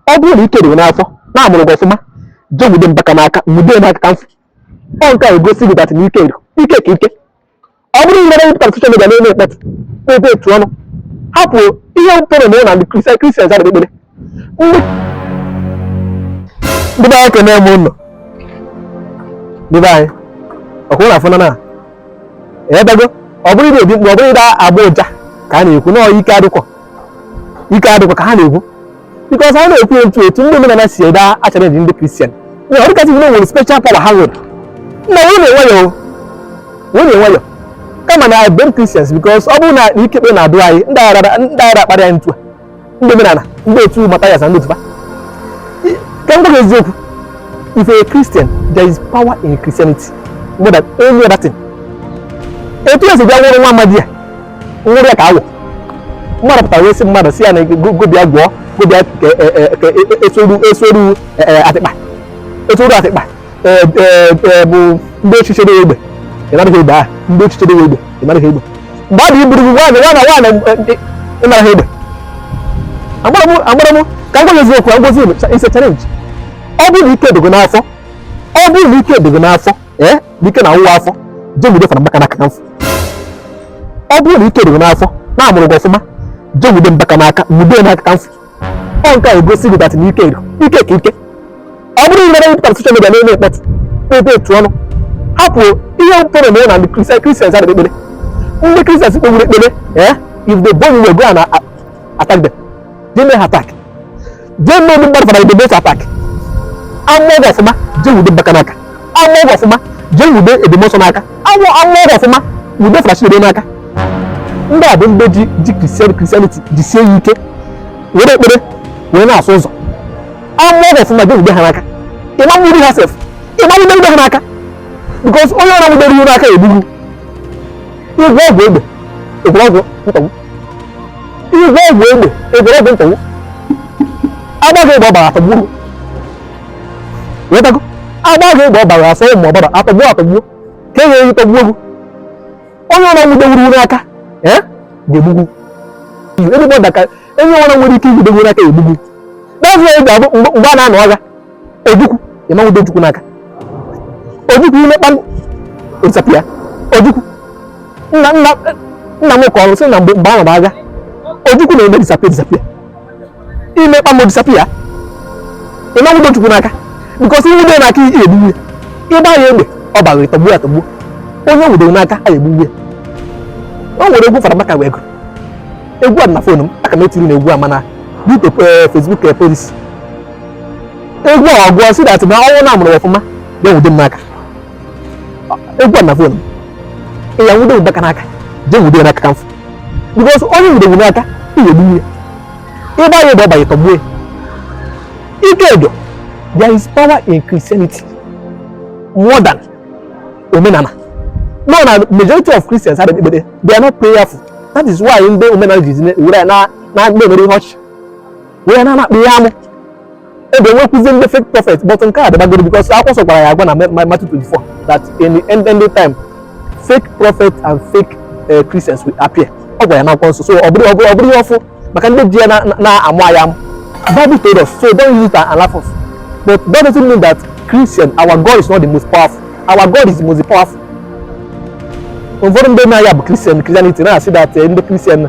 ọ bụrụ na ike dị gị n'afọ na a mụrụ gị ọfụma jee nwude mbaka n'aka nwude ya aka ka m fụ ọ nke a egosi gị dat na ike dị ike ka ike ọ bụrọ na ị pụtara soshal midia na-eme mkpọtụ ebe etu ọnụ hapụ ihe mpụrụ na ụlọ ndị kristian kristian zara ekpere ndị ndị be anyị kene m ụlọ ndị be anyị ọkụ na afọ na na edago ọ bụrọ ị na-ebe mkpu ọ bụrọ ị na-agbọ ụja ka a na-ekwu na ọyị ike adịkwọ ike adịkwa ka ha na-ekwu bikọs ha na-ekwu otu otu ndị omenala si ede achara ndị kristian na ọ dịka sị na ha nwere special power ha nwere na nwunye nwayọ nwunye nwayọ kama na m blem kristians bikọs ọ bụrụ na ike ekpere na-adị anyị ndị a agaghị akparị anyị etu a ndị omenala ndị otu matayas na ndị otu fa ka m gwa gị eziokwu if a christian there is power in christianity more than any other thing etu esi bịa nwụrụ nwa amadi a nwụrụ ya ka awọ mmadụ pụtara wee sị mmadụ si ya na gobia gwọọ gobia esoru esoru atịkpa esoru atịkpa bụ ndị echiche dị egbe ịnaraghị egbe ahụ ndị echiche dị egbe ịnaraghị egbe mgbe ọ dị iburu gị nwaanyị nwaanyị nwaanyị ịnaraghị egbe agbara m agbara m ka m gwa gị eziokwu agwazi it's a challenge ọ bụrụ na ike dị gị n'afọ ọ bụrụ na ike dị gị n'afọ ee ike na-awọwa afọ jee nwude fada mbaka n'aka ka m fụ ọ bụrụ na ike dị gị n'afọ na a mụrụ gị ọfụma jee nwude mbaka n'aka nwude n'aka ka m fụ ọ nke a egosi gị dat na ike dị ike ka ike ọ bụrọ na ị pụtara soshal midia na-eme mkpọtụ ebe etu ọnụ hapụ ihe mpụrụ na na ndị kristian kristian zara ekpere ndị kristian kpewuru ekpere ee if they born you go and attack them They may attack. They know the bad for the debate attack. Among of ma, they will be back and back. Among of ma, they will be a demotion aka. Among of ma, will be flash the aka. Ndị a bụ ndị ji ji Christian Christianity jisie ya ike were ekpere wee na-asụ ụzọ. Among of ma, they will be ha n'aka. Ị ma mmiri ha sef. Ị ma mmiri ha n'aka. Because onye ọrụ nwụdere ihu n'aka egbugbu. Ịgwọ ọgwụ egbe, ịgwọ ọgwụ mkpagbu. ị gwọọ ọgwụ egbe ị gwọrọ ọgwụ ntọgbu a gbaa gị egbe ọ barọ a tọgbuo gị ị wọtago a gbaa gị egbe ọ barọ a sụọ mma ọ barọ a tọgbuo a tọgbuo ka ị ga-eji tọgbuo ewu onye ọbụla nwude wuru wuru aka eh, ga-egbu gị ebe ọ daka onye ọbụla nwere ike inwude gị aka egbuo gị na-azụ ya ga-abụ mgbe a na-anụ agha ojukwu ịma nwudo ojukwu n'aka ojukwu ime kpam ọ disappear ojukwu nna nna nna m kọrọ sị na mgbe mgbe a na-anụ agha ojukwu na-eme disappear disappear ime kpam ọ disappear ịma nwudo ojukwu n'aka because i nwudo ya n'aka ị ya-egbu ya ị gbaa ya egbe ọ baa ị tọgbuo ya tọgbuo onye nwudo n'aka a ya-egbu ya o nwere egwu Father Mbaka wee gụrụ egwu a dị na phone m aka m etiri unu egwu a mana dịka Facebook policy egwu a ọ gụọ sị that na onye nna ya mụrụ ọfụma bịa nwude m n'aka egwu a na phone m ya nwude Mbaka n'aka jee nwude ya n'aka ka m fụ because onye i nwude n'aka ị ya-egbu ya ị gbaa ya egbe ọ banye ị tọgbuo ya ike edo there is power in christianity more than omenala no na majority of christians adịghị ekpere they are not prayerful that is why ndị omenala ji were na na-emere ihe ọchị wee na-akpa ihe amụ ebe e nwekwuzi ndị fake prophet but nke a dabagoro because akwụkwọ nsọ gwara anyị agwa na Matthew 24 that in the end end time fake prophet and fake uh, Christians will appear ọ gwara anyị n'akwụkwọ nsọ so ọ bụrọ ọ bụrọ ọ bụrọ ihe ọfụụ maka ndị ji ya na-amụ anyị amụ Bible told us so don't use it and laugh us but that doesn't mean that Christian our God is not the most powerful our God is the most powerful ụfọdụ ndị nọ na ya bụ Christian Christianity na-asị that eh, ndị Christian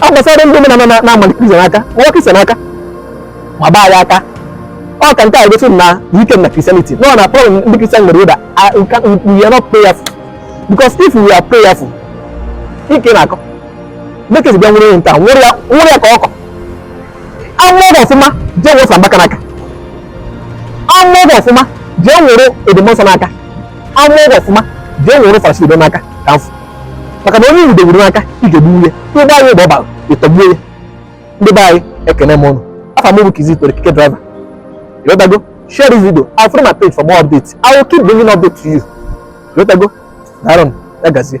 a gbasara ndị omenala na- na-ama Christian aka nwa Christian aka ma gbaa ya aka ọ ka nke a gosi m na ike dị na Christianity nọ na problem ndị Christian nwere bụ that we can- we- we are not prayerful because if we are prayerful ike na-akọ bekee bịa nwere nke a nwere ya nwere ya ka ọkụkọ a mụrụ ọfụma jee wụsa Mbaka n'aka a mụrụ ọfụma jee nwere Ebube Muonso n'aka a mụrụ ọfụma jee nwere Father Sido n'aka ka m fụ maka na onye i nwudewuru n'aka ị ga-egbu ya ị gbaa ya egbe ọ baa ị tọgbuo ya ndị be anyị ekene m unu afa m bụ Kizito the keke driver ịghọtago share this video and follow my page for more updates I will keep bringing update to you ịghọtago daalụnụ ya gazie